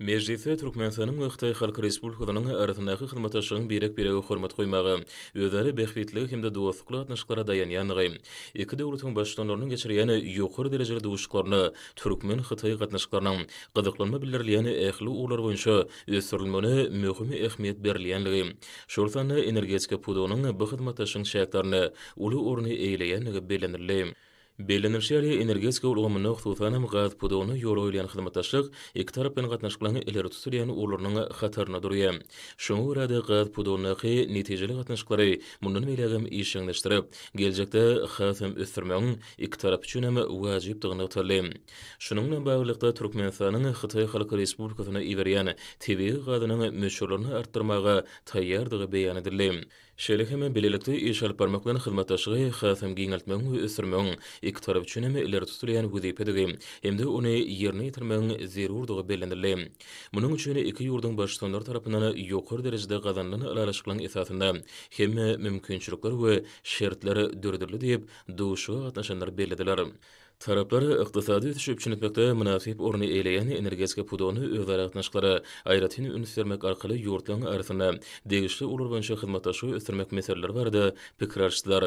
Mejlisde Türkmenistanyň we Hytaý Halk Respublikasynyň arasyndaky hyzmatdaşlygyň birek-birege hormat goýmaga, özara bähbitlige hem-de dostlukly gatnaşyklara daýanýandygy, iki döwletiň Baştutanlarynyň geçirýän ýokary derejeli duşuşyklarynda türkmen-hytaý gatnaşyklarynyň gyzyklanma bildirilýän ähli ugurlar boýunça ösdürilmegine möhüm ähmiýet berilýändigi, şol sanda energetika pudagynyň bu hyzmatdaşlygyň çäklerinde uly orny eýeleýändigi bellenildi. Bellenilişi ýaly, energetika ulgamynda, hususan hem, gaz pudagynda ýola goýulýan hyzmatdaşlyk iki tarap bilen gatnaşyklaryň ileri tutulýan ugurlarynyň hatarynda durýar. Şoňa görä-de, gaz pudagyndaky netijeli gatnaşyklary mundan beýlägem işjeňleşdirip, geljekde has hem ösdürmegiň iki tarap üçin hem wajypdygy nygtaldy. Şunuň bilen baglylykda, Türkmenistanyň Hytaý Halk Respublikasyna iberýän tebigy gazynyň möçberlerini artdyrmaga taýýardygy beýan edildi. Şeýle hem, bilelikde iş alyp barmak bilen hyzmatdaşlygy hasam giňeltmegiň we ösdürmegiň iki tarap üçin hem ileri tutulýan wezipedigi hem-de ony ýerine ýetirmegiň zerurdygy bellenildi. Munuň üçin iki ýurduň Baştutanlary tarapyndan ýokary derejede gazanylan ylalaşyklaryň esasynda hemme mümkinçilikler we şertler döredildi diýip, duşuşyga gatnaşanlar bellediler. Taraplar ykdysady ösüşi üpjün etmekde mynasyp orny eýeleýän energetika pudagyna özara gatnaşyklara aýratyn üns bermek arkaly ýurtlaryň arasynda degişli ugurlar boýunça hyzmatdaşlygy ösdürmek meseleleri barada pikir alyşdylar.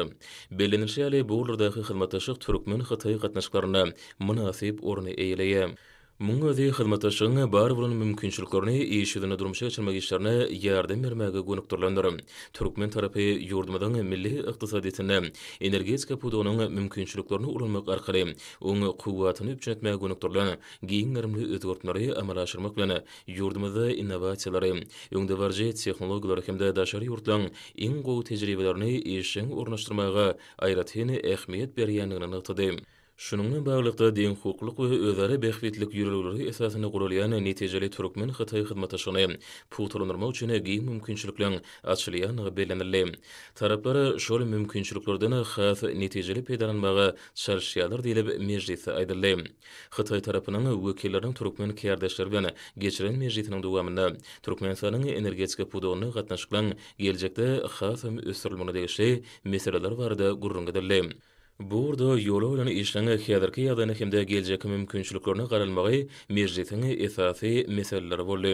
Bellenilişi ýaly, bu ugurlardaky hyzmatdaşlyk türkmen-hytaý gatnaşyklarynda mynasyp orny eýeleýär. Munuň özi hyzmatdaşlygyň bar bolan mümkinçiliklerini iş ýüzünde durmuşa geçirmek işlerine ýardam bermäge gönükdirilendir. Türkmen tarapy ýurdumyzyň milli ykdysadyýetinde energetika pudagynyň mümkinçiliklerini ulanmak arkaly oň kuwwatyny üpjün etmäge gönükdirilen giň gerimli özgertmeleri amala aşyrmak bilen, ýurdumyzda innowasiýalary, öňdebaryjy tehnologiýalary hem-de daşary ýurtlaryň iň gowy tejribelerini işjeň ornaşdyrmaga aýratyn ähmiýet berýändigini nygtady. Şunuň bilen baglylykda, deňhukuklyk we özara bähbitlilik ýörelgeleri esasynda guralýan netijeli türkmen-hytaý hyzmatdaşlygyny pugtalandyrmak üçin giň mümkinçilikleriň açylýandygy bellenildi. Taraplar şol mümkinçiliklerden has netijeli peýdalanmaga çalyşýarlar diýlip, mejlisde aýdyldy. Hytaý tarapynyň wekilleriniň türkmen kärdeşleri bilen geçiren mejlisiniň dowamynda Türkmenistanyň energetika pudagynda gatnaşyklaryň geljekde hasam ösdürilmegine degişli meseleler barada gürrüň edildi. Bu ugurda ýola goýlan işiň häzirki ýagdaýyna hem-de geljekki mümkinçiliklerine garalmagy mejlisiň esasy meseleleri boldy.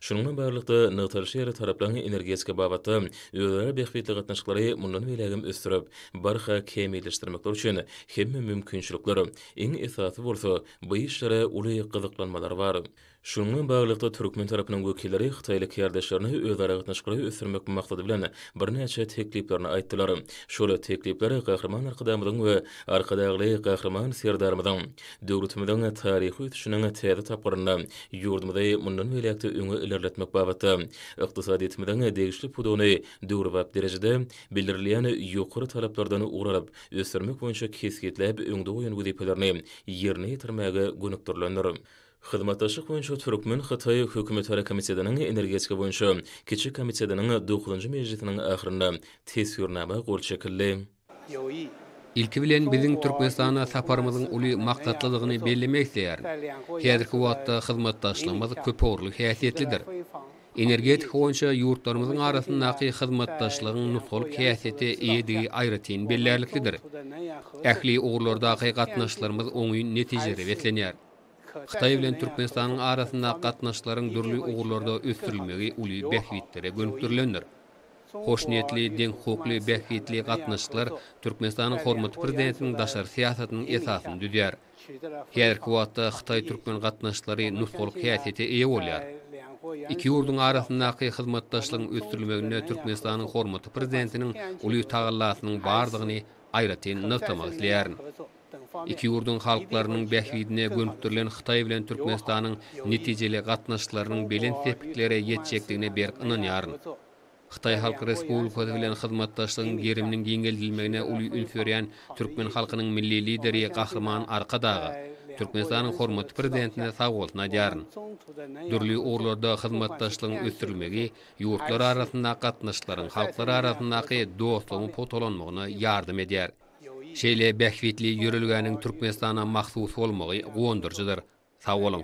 Şunuň bilen baglylykda, nygtalyşy ýaly, taraplar energetika babatda özara bähbitli gatnaşyklary mundan beýläk hem ösdürip, barha kämilleşdirmekleri üçin hemme mümkinçilikler, iň esasy bolsa, bu işlere uly gyzyklanmalar bar. Şunuň bilen baglylykda, türkmen tarapynyň wekilleri hytaýly kärdeşlerine özaragatnaşyklary ösdürmek maksady bilen birnäçe tekliplerini aýtdylar. Şol teklipler Gahryman Arkadagymyzyň we Arkadagly Gahryman Serdarymyzyň döwletimiziň taryhy ösüşiniň täze tapgyrynda ýurdumyzy mundan beýläk-de öňe ilerletmek babatda ykdysadyýetimiziň degişli pudagyny döwrebap derejede bildirilýän ýokary talaplardan ugur alyp ösdürmek boýunça kesgitläp öňde goýan wezipelerini ýerine ýetirmäge gönükdirilendir. Hyzmatdaşlyk boýunça türkmen-hytaý hökümetara komitetiniň energetika boýunça kiçi komitetiniň dokuzynjy mejlisiniň ahyrynda Teswirnama gol çekildi. Ilki bilen biziň Türkmenistana saparymyzyň uly maksatlydygyny bellemek isleýärin. Häzirki wagtda hyzmatdaşlygymyz köpugurly häsiýetlidir. Energetika boýunça ýurtlarymyzyň arasyndaky hyzmatdaşlygyň nusgalyk häsiýete eýedigi aýratyn bellärliklidir. Ähli ugurlardaky gatnaşyklarymyz oňyn netijelere beslenýär. Hytaý bilen Türkmenistanyň arasyndaky gatnaşyklaryň dürli ugurlarda ösdürilmegi uly bähbitlere gönükdirilendir. Hoşniýetli, deňhukukly, bähbitli gatnaşyklar Türkmenistanyň hormatly Prezidentiniň daşary syýasatynyň esasyny düzýär. Häzirki wagtda hytaý-türkmen gatnaşyklary nusgalyk häsiýete eýe bolýar. Iki ýurduň arasyndaky hyzmatdaşlygyň ösdürilmeginde Türkmenistanyň hormatly Prezidentiniň uly tagallasynyň bardygyny aýratyn nygtamak isleýärin. Iki ýurduň halklarynyň bähbidine gönükdirilen Hytaý bilen Türkmenistanyň netijeli gatnaşyklarynyň belent sepgitlere ýetjekdigine berk ynanýaryn. Hytaý Halk Respublikasy bilen hyzmatdaşlygyň geriminiň giňeldilmegine uly üns berýän türkmen halkynyň Milli Lideri Gahryman Arkadaga, Türkmenistanyň hormatly Prezidentine sag bolsun aýdýaryn. Dürli ugurlarda hyzmatdaşlygyň ösdürilmegi ýurtlar arasyndaky gatnaşyklaryň halklar arasyndaky dostlugyň pugtalanmagyna ýardam edýär. Şeýle bähbitli ýörelgäniň Türkmenistana mahsus bolmagy guwandyryjydyr. Sag boluň!